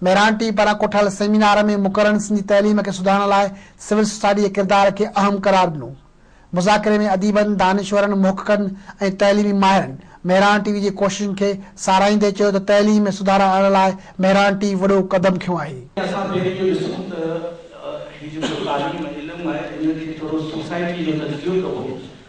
ميرانٽي پاران ڪوٺل سيمينار ۾ مقررن سنڌي تعليم کي سڌارڻ لاء سول سوسائٽي جي ڪردار کي اهم قرار ڏنو. مذاڪري ۾ اديبن، دانشورن، محققن ۽ تعليمي ماهرن مهراڻ ٽي وي جي ڪوششن کي ساراهيندي چيو ته تعليم ۾ سڌارا آڻڻ لاء مهراڻ ٽي وڏو قدم کنيو آهي. اسان پهرين اهو ڏسون ته هي جيڪو تعليم علم آهي ان کي ٿورو سوسائٽي جو تجزيو ڪبو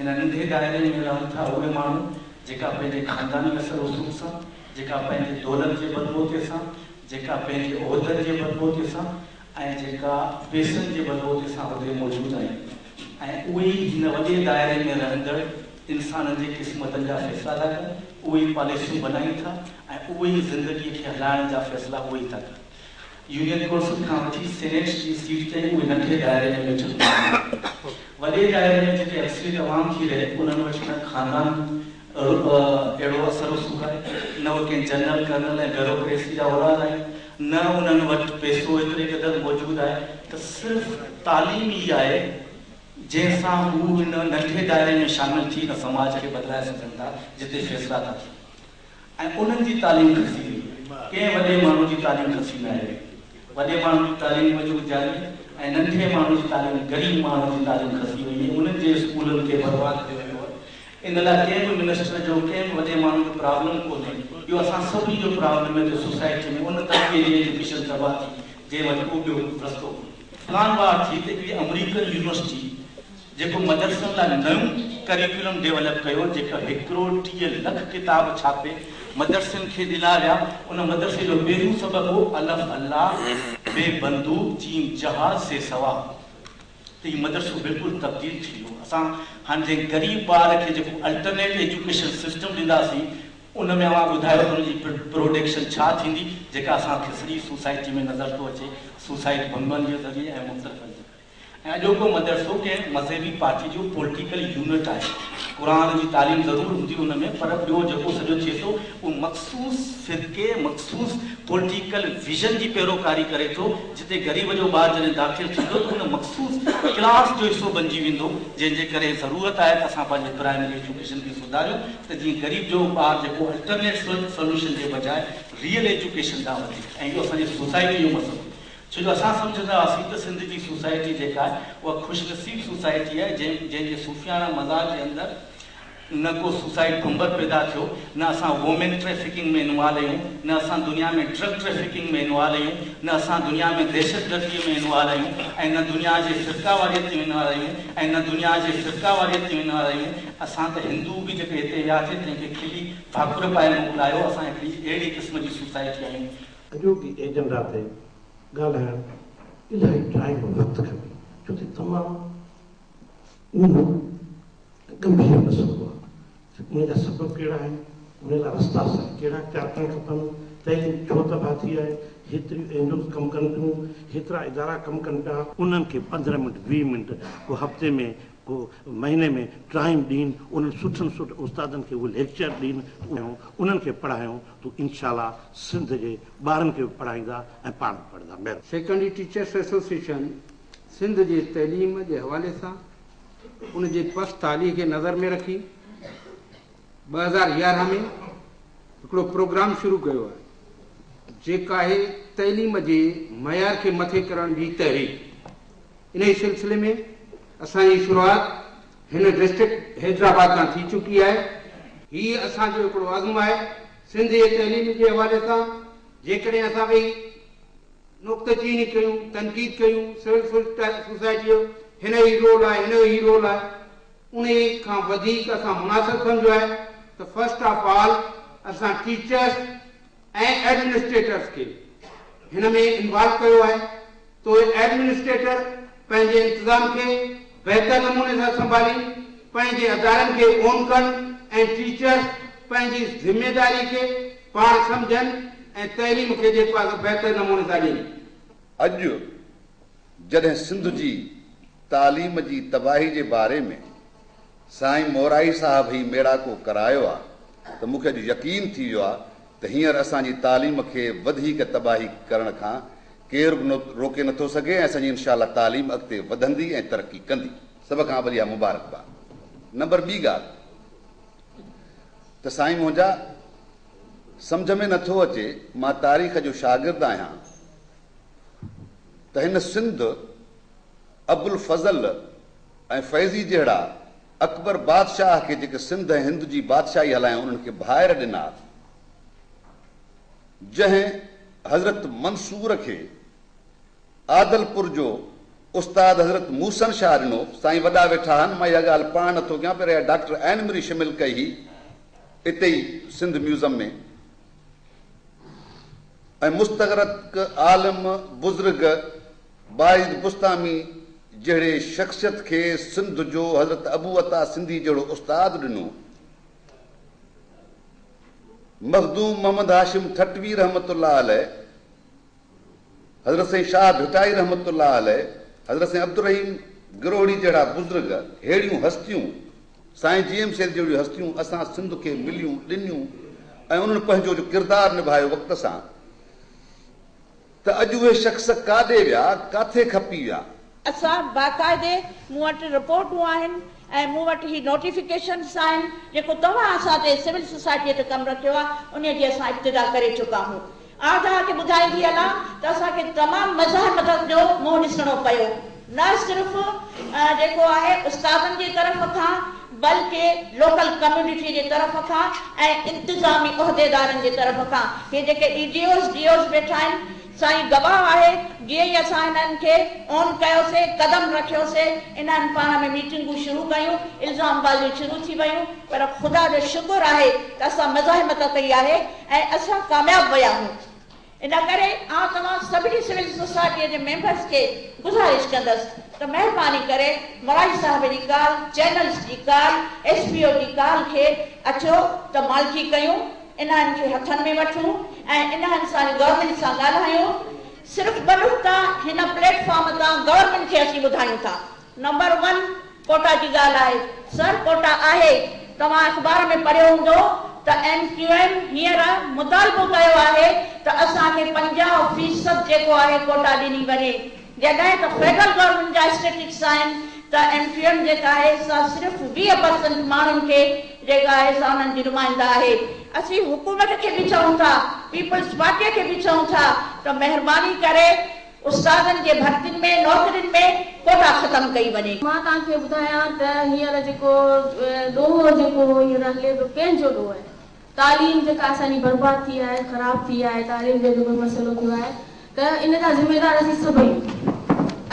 ان ننڍي دائري ۾ رهن ٿا اهي ماڻهو جيڪا پنهنجي خانداني اثر رسوخ سان، جيڪا پنهنجي دولت جي بلبوتي سان، جيڪا پنهنجي عهدن جي بلبوتي سان ۽ جيڪا پيسن جي بلبوتي سان هتي موجود آهن ۽ اهي ئي هن وڏي دائري ۾ رهندڙ انسانن جي قسمتن جا فيصلا ٿا ڪن، اهي ئي پاليسيون بنائين ٿا ۽ اهي ئي زندگي کي هلائڻ جا فيصلا اهي ئي ٿا ڪن. يونين ڪونسل کان وٺي سينيٽ جي سيٽ تائين اهي ننڍي دائري ۾ ويٺل هوندا آهن. وڏي دائري ۾ جتي اڪثريت عوام ٿي رهي، انهن وٽ نه خاندان رعب اهڙو اثر رسوخ آهي، نه اهي ڪنهن جنرل، ڪرنل ۽ بيوروڪريسي جا اولاد آهن، نه انهن وٽ پئسو ايتري قدر موجود آهي ته صرف تعليم ئي آهي، جنهن سان هو ان ننڍي دائري ۾ شامل ٿي ان سماج کي بدلائي سگهن ٿا، جتي فيصلا ٿا ٿين. ۽ انهن جي تعليم کسي وئي. ڪنهن وڏي ماڻهو جي تعليم کسي نه آهي. وڏي ماڻهو جي تعليم وجود جاري ۽ ننڍي ماڻهو جي تعليم غريب ماڻهو جي تعليم کسي وئي ۽ انهن جي اسڪولن کي برباد ڪيو ويو آهي. ان لاء ڪنهن به منسٽر جو ڪنهن به وڏي ماڻهو جو پرابلم ڪونهي. اهو اسان سڀني جو پرابلم آهي جو سوسائٽي ۾ ان طبقي جي ايجوڪيشن تباهه ٿي جنهن وٽ ڪو ٻيو رستو ڪونهي. پلان وار ٿي ته اهڙي آمريڪن يونيورسٽي جيڪو مدرسن لاء نيون ڪريڪولم ڊيولپ ڪيو جيڪا هڪ ڪروڙ ٽيهه لک ڪتاب ڇاپي مدرسن کي ڏنا ويا ان مدرسي جو پهريون سبق هو الف الله بي بندوق جيم جهاز سي سوا ته هي مدرسو بلڪل تبديل ٿي ويو اسان هاڻ جنهن غريب ٻار کي جيڪو الٽرنيٽ ايجوڪيشن سسٽم ڏينداسين ان ۾ اوهان ٻڌايو ته ان جي پروڊڪشن ڇا ٿيندي جيڪا اسان کي سڄي سوسائٽي ۾ نظر ٿو اچي سوسائٽ ڀنگن جي ذريعي ۽ مختلفن جي ڪري. ۽ اڄوڪو مدرسو ڪنهن مذهبي پارٽي جو پولٽيڪل يونٽ آهي. قرآن جي تعليم ضرور هوندي ان ۾ پر ٻيو جيڪو سڄو ٿئي ٿو اهو مخصوص فرقي، مخصوص پولٽيڪل ويزن جي پيروڪاري ڪري ٿو. جتي غريب جو ٻار جڏهن داخل ٿيندو ته ان مخصوص ڪلاس جو حصو بنجي ويندو جنهن جي ڪري ضرورت آهي ته اسان پنهنجي پرائمري ايجوڪيشن کي سڌاريون ته جيئن غريب جو ٻار جيڪو الٽرنيٽ سولوشن جي بجاء ريئل ايجوڪيشن ڏانهن وڌي ۽ اهو اسان جي سوسائٽي جو مسئلو ڇو جو اسان سمجهندا هئاسين ته سنڌ جي سوسائٽي جيڪا آهي اها خوش نصيب سوسائٽي آهي جنهن جي صوفياڻا مزاج جي اندر نه ڪو سوسائيڊ بمبر پيدا ٿيو نه اسان وومين ٽريفڪنگ ۾ انوالو آهيون نه اسان دنيا ۾ ڊرگ ٽريفڪنگ ۾ انوالو آهيون نه اسان دنيا ۾ دهشتگردي ۾ انوالو آهيون ۽ نه دنيا جي فرقاواريت ۾ انوالو آهيون ۽ نه دنيا جي فرقاواريت ۾ انوالو آهيون اسان ته هندو به جيڪي هتي وياسي تنهن کي کلي ڀاڪر پائي موڪلايو اسان هڪڙي اهڙي قسم جي سوسائٽي آهيون اڄوڪي ايجنڊا تي ڳالهائڻ الاهي ٽائيم ۽ وقت کپي ڇو ته تمام اهم ۽ ڳنڀير مسئلو آهي ته ان جا سبب ڪهڙا آهن، ان لاء رستا صحيح ڪهڙا اختيار ڪرڻ کپن، تعليم ڇو تباهه ٿي آهي، هيتريون اين جي اوز ڪم ڪن پيون، هيترا ادارا ڪم ڪن پيا، انهن کي پندرهن منٽ ويهه منٽ ڪو هفتي ۾ هو مهيني ۾ ٽائين ڏينهن انهن سٺن سٺ استادن کي هو ليڪچر ڏين تون انهن کي پڙهايون تون انشاء الله سنڌ جي ٻارن کي به پڙهائيندا ۽ پاڻ به پڙهندا مهرباني. سيڪنڊري ٽيچرس ايسوسيئيشن سنڌ جي تعليم جي حوالي سان ان جي پست حالي کي نظر ۾ رکي ٻه هزار يارهن ۾ هڪڙو پروگرام شروع ڪيو آهي جيڪو آهي تعليم جي معيار کي مٿي ڪرڻ جي تحريڪ انهي سلسلي ۾ اسان جي شروعات هن ڊسٽرڪٽ حيدرآباد کان ٿي چڪي آهي هي اسان جو هڪڙو عزم آهي سنڌ جي تعليم جي حوالي سان جيڪڏهن اسان ويهي نقطه چيني ڪيون تنقيد ڪيون سول سوسائٽي جو هن هي رول آهي هن جو هي رول آهي انهي کان وڌيڪ اسان مناسب سمجهيو آهي ته فرسٽ آف آل اسان ٽيچرس ۽ ايڊمنسٽريٽرس کي هن ۾ انوالو ڪيو آهي تو ايڊمنسٽريٽر پنهنجي انتظام کي بهتر نموني سان سنڀالين پنهنجي ادارن کي اون ڪن ۽ ٽيچرس پنهنجي ذميداري کي پاڻ سمجهن ۽ تعليم کي جيڪو آهي سو بهتر نموني سان ڏين. اڄ جڏهن سنڌ جي تعليم جي تباهي جي باري ۾ سائين مورائي صاحب هي ميڙاڪو ڪرايو آ ته مون کي اڄ يقين ٿي ويو آ ته هينئر اسان جي تعليم کي وڌيڪ تباهي ڪرڻ کان ڪير به روڪي نه ٿو سگهي ۽ اسان جي انشاء الله تعليم اڳتي وڌندي ۽ ترقي ڪندي. سڀ کان اوليا مبارڪباد. نمبر ٻي ڳالهه ته سائين منهنجا سمجهه ۾ نه ٿو اچي مان تاريخ جو شاگرد آهيان، ته هن سنڌ، ابوالفضل ۽ فيضي جهڙا اڪبر بادشاهه کي جيڪي سنڌ ۽ هند جي بادشاهي هلايائون انهن کي ڀائر ڏنا، جنهن حضرت منصور کي عادلپور جو استاد حضرت محسن شاهه ڏنو. سائين وڏا ويٺا آهن، مان اها ڳالهه پاڻ نٿو ڪيان پر اها ڊاڪٽر عين مري شمل ڪئي هئي اتي ئي سنڌ ميوزم ۾. ۽ مستغرق عالم بزرگ بايزيد بسطامي جهڙي شخصيت کي سنڌ جو حضرت ابو عطا سنڌي جهڙو استاد ڏنو. مخدوم محمد هاشم ٺٽوي رحمة الله عليه حضرت سائين شاهه ڀٽائي رحمة الله عليه، حضرت سائين عبدالرحيم گروهڙي جهڙا بزرگ، ههڙيون هستيون، سائين جي ايم سيد جهڙيون هستيون اسان سنڌ کي مليون، ڏنيون ۽ انهن پنهنجو جو ڪردار نڀايو وقت سان ته اڄ اهي شخص ڪاڏي ويا، ڪاٿي کپي ويا؟ اسان باقاعدي مون وٽ رپورٽون آهن ۽ مون وٽ هي نوٽيفڪيشنز آهن جيڪو توهان اسان تي سول سوسائٽيء تي ڪم رکيو آهي انهيء جي اسان ابتدا ڪري چڪا هون آء توهان کي ٻڌائيندي هلان ته اسان کي تمام مزاحمتن جو منهن ڏسڻو پيو نه صرف جيڪو آهي استادن جي طرف کان بلڪه لوڪل ڪميونٽيء جي طرف کان ۽ انتظامي عهديدارن جي طرف کان هي جيڪي E D Os D Os ويٺا آهن سائين گواهه آهي، جيئن ئي اسان انهن کي آن ڪيوسين، قدم رکيوسين، انهن پاڻ ۾ ميٽنگون شروع ڪيون، الزام بازيون شروع ٿي ويون، پر خدا جو شڪر آهي ته اسان مزاحمت ڪئي آهي ۽ اسان ڪامياب ويا آهيون. ان ڪري آئون توهان سڀني سول سوسائٽيء جي ميمبرز کي گذارش ڪندس ته مهرباني ڪري مراجي صاحب جي ڪال، چينلز جي ڪال، ايس پي او جي ڪال کي اچو ته مالڪي ڪيون. انهن کي هٿن ۾ وٺون ۽ انهن سان گورنمينٽ سان ڳالهايون صرف ٻه نقطا هن پليٽ فارم تان گورنمينٽ کي اسين ٻڌايون ٿا نمبر ون ڪوٽا جي ڳالهه آهي سر ڪوٽا آهي توهان اخبار ۾ پڙهيو هوندو ته ايم ڪيو ايم هينئر مطالبو ڪيو آهي ته اسان کي پنجاهه فيصد جيڪو آهي ڪوٽا ڏني وڃي جڏهن ته فيڊرل گورنمينٽ جا اسٽيٽڪس آهن ته ايم ڪيو ايم جيڪا آهي سا صرف ويهه پرسنٽ ماڻهن کي جيڪا آهي سا انهن جي نمائنده آهي اسين حڪومت کي به چئون ٿا پيپلز پارٽي کي به چئون ٿا ته مهرباني ڪري استادن جي ڀرتين ۾ نوڪرين ۾ ڪوٽا ختم ڪئي وڃي. مان توهان کي ٻڌايان ته هينئر جيڪو ڏوهه جيڪو هينئر هلي پيو ڪنهن جو ڏوهه آهي. تعليم جيڪا اسان جي برباد ٿي آهي خراب ٿي آهي تعليم جو جيڪو مسئلو ٿيو آهي ته ان جا ذميدار اسين سڀ آهيون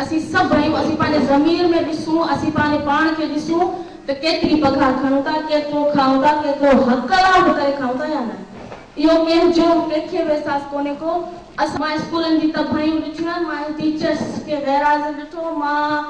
اسين سڀ آهيون اسين پنهنجي ضمير ۾ ڏسون اسين پنهنجي پاڻ کي ڏسون ته ڪيتري پگهار کڻون ٿا ڪيترو کائون ٿا ڪيترو حق حلال به ڪري کائون ٿا يا نه اهو ڪنهن جو ڪنهن کي به احساس ڪونهي ڪو اسان مان اسڪولن جي تباهيون ڏٺيون آهن مان ٽيچرس کي غيرحاضر ڏٺو مان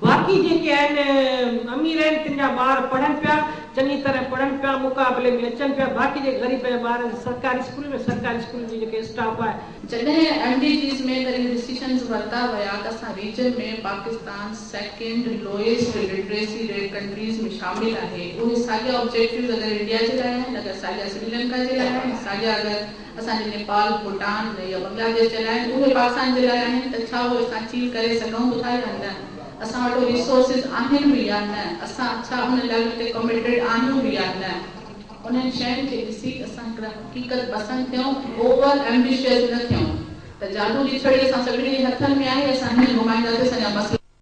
باقي جيڪي آهن امير آهن تن جا ٻار پڙهن پيا چڱي طرح پڙهن پيا مقابلي ۾ اچن پيا باقي جيڪي غريب آهن ٻارن سرڪاري اسڪولن ۾ سرڪاري اسڪولن جي جيڪي اسٽاف آهي. جڏهن ايم ڊي جيز ۾ وري ڊسيشنز ورتا ويا ته اسان region ۾ Pakistan second lowest literacy rate countries ۾ شامل آهي اهي ساڳيا آبجيڪٽوز اگر انڊيا جي لاء آهن اگر ساڳيا سريلنڪا جي لاء آهن ساڳيا اگر اسان جي نيپال، ڀوٽان يا بنگلاديش جي لاء آهن، اهي پاڪستان جي لاء آهن ته ڇا اهي اسان چيل ڪري سگهون به ٿا يا نه؟ اسان وٽ اهي ريسورسز آهن به يا نه؟ اسان ڇا ان لڳ تي ڪمٽيڊ آهيون به يا نه؟ انهن شين کي ڏسي اسان هڪڙا حقيقت پسند ٿيون ۽ اوور ايمبيشيس نه ٿيون ته جادو جي ڇڙي اسان سڀني جي هٿن ۾ آهي، اسان هيئن گهمائينداسين اسان جا مسئلا.